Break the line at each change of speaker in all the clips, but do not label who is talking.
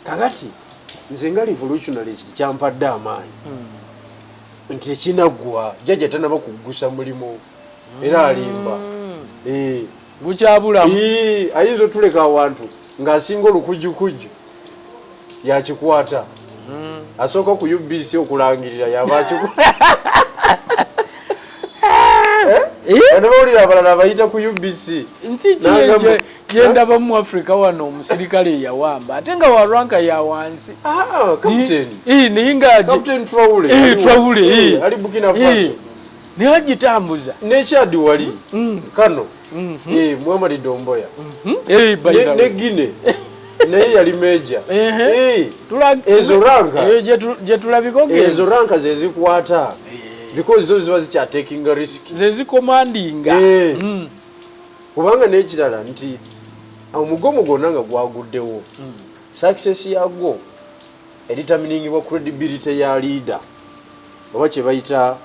kakati nze nga revolutionalist kyampadde amaanyi hmm. nti ekinaggwa jajja tanaba kuggusa mulimu era alimba hmm. eh. gukyabulamu
eh, ayinza otuleka
awantu ng'asinga olukujjukujju yakikwata hmm. asooka ku ubc okulangirira yaba akikwata Eh? Eh? anabawulira abalala abayita ku ubc nti
yendaba mu africa wano omusirikale eyawamba ate nga wa ranka ya wansi ah, naye ngatrawule
naye
agitambuza nekyadi wali
mm. kano mm-hmm. eh, muhamadi domboya mm-hmm. eh, ne guine naye yali meja eh, ezo ranka gyetulabikoezo ranka zezikwata because zo ziba zikyatekinga risk zezikomandinga
mm.
kubanga n'ekirala nti omugomo gwonna nga gwaguddewo hmm. success yagwo eritaminingibwa credibility ya leader oba kyebayita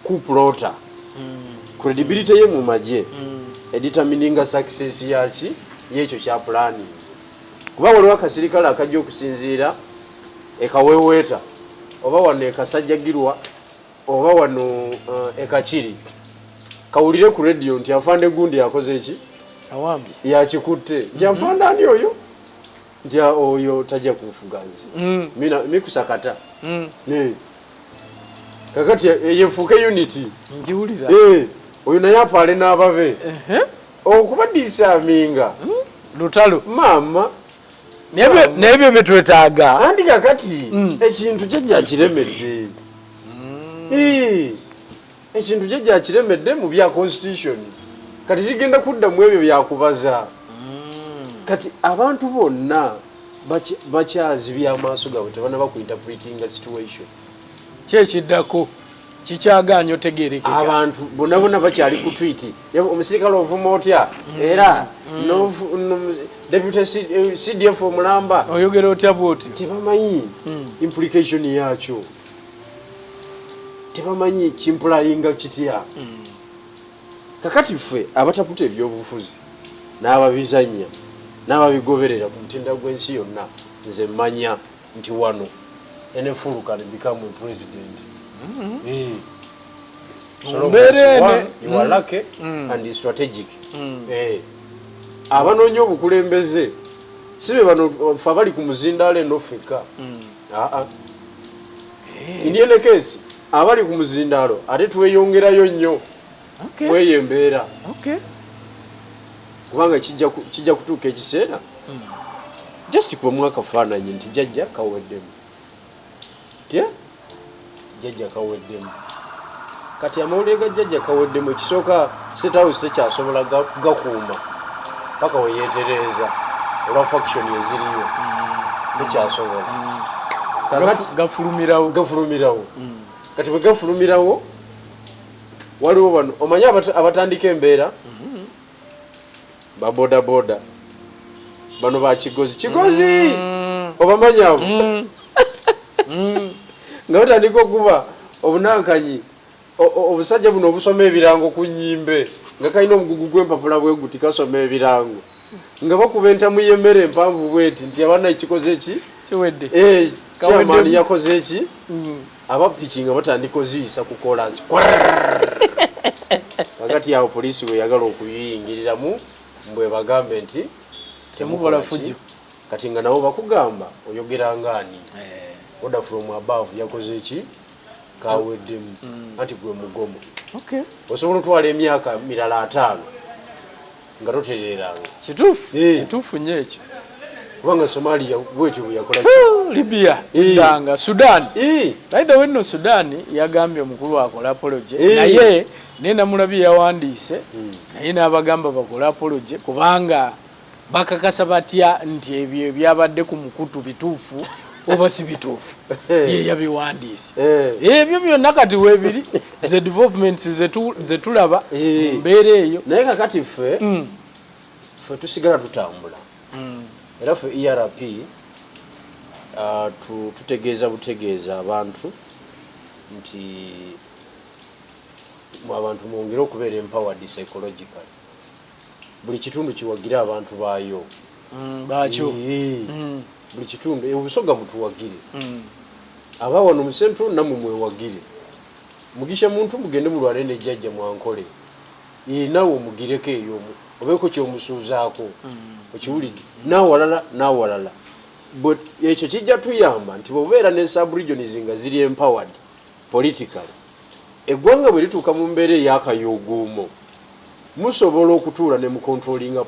kuplota hmm. credibility ye mu magye hmm. editamininga success yaki yekyo kya planning kuba waliwo akasirikale akajja okusinziira ekaweweeta oba wano ekasajjagirwa oba wano uh, ekakiri kawulire ku radio nti afande gundi yakoze eki
yakikutte
nti mhm. afande ani oyo nti ah, oyo tajja kunfuga nze mm. mikusakata mm. kakati eh, yefuuke unity njiwulira eh,
oyo naye
apaale n'ababe okubadiisa aminga hmm? lutalo
maama nebyo byetwetaaga anti kakati
mm. ekintu kye gyakiremedde mm. ekintu kye gyakiremedde mu bya constitution kati kigenda kudda mu ebyo byakubaza mm. kati abantu bonna bakyazi byamaaso gaabwe tebana bakuinterpretinga situation kyekiddako
kikyaganya otegerekeka abantu bonabona
bakyali ku twit omusirikale ovuma otya mm. era mm. deputy cdf eh, omulamba oyogera otya bwoti
tebamanyi mm.
implication yakyo tebamanyi kimpulayinga kitya kakati ffe abataputa ebyobufuzi n'ababizanya n'ababigoberera ku mutindo gw'ensi yonna nze manya nti wano enefulu can become a president mm-hmm. eh. abanoonya obukulembeze si be bano fe abali ku muzindaalo eno fekka mm. ah, ah. eh. indienekesi abali ku muzindaalo ate tweyongerayo nnyo mweyo embeera kubanga kijja kutuuka ekiseera hmm. just kubamu akafaananyi nti jajja kaweddemu tya jajja kaweddemu kati amawulire ga jajja kaweddemu ekisooka setawusi tekyasobola gakuuma paka weyetereeza olwa faction eziriyo hmm. tekyasobola hmm. gafulumirawo gafulumirawo kati bwe gafulumirawo waliwo bano omanyi abatandika embeera mm-hmm. babodaboda bano ba kigozi kigozi mm. obamanyi abo mm. Mm. nga batandika okuba obunankanyi obusajja buno obusoma ebirango ku nyimbe nga kalina omugugu gw'empapula bwe guti kasoma ebirango nga bakuba entamu y'emmere empanvu bweti nti abana ekikoze ki kiwedde eh,
kyamaani
yakoze ki abapiki nga batandika oziyisa ku kolansi wakati awo poliisi weyagala okuyingiriramu mbwebagambe nti temukola
fujo kati nga nabo
bakugamba oyogera ngaani eh. order from above yakoze ki kaweddemu mm. anti gwe mugomo osobola otwala emyaka mirala ataano nga totereeranga kituufu eh. kituufu
nyo ekyo kubanga
somalia bwekyo bweyakola libya
danga eh. sudan eh. by the way no sudan yagambye omukulu akola apology naye naye namulabye yawandiise hmm. naye n'abagamba bakola apology kubanga bakakasa batya nti ebyo ebyabadde ku mukutu bituufu oba si bituufu yeyabiwandiise ebyo byonna kati webiri ze developments ze tulaba eh. mbeera eyo naye kakati ffe
mm. ffe tusigala tutambula mm. era ffe erp uh, tutegeeza butegeeza abantu nti abantu mwongere okubeera empowered psychological buli kitundu kiwagire abantu baayo mm,
baakyo mm.
buli kitundu e, obusoga mutuwagire mm. aba wano mu central namwe mwewagire mugisha muntu mugende mulwale ne jjajja mwankole e, nawe omugireko eyo obeeko kyomusuuzaako okiwulidde nawalala nawalala but ekyo kijja tuyamba nti bwobeera ne subregions nga ziri empowered politically Eggwanga bwe lituuka mu mbeera ey'akayuuguumo, musobola okutuula ne mukontulolinga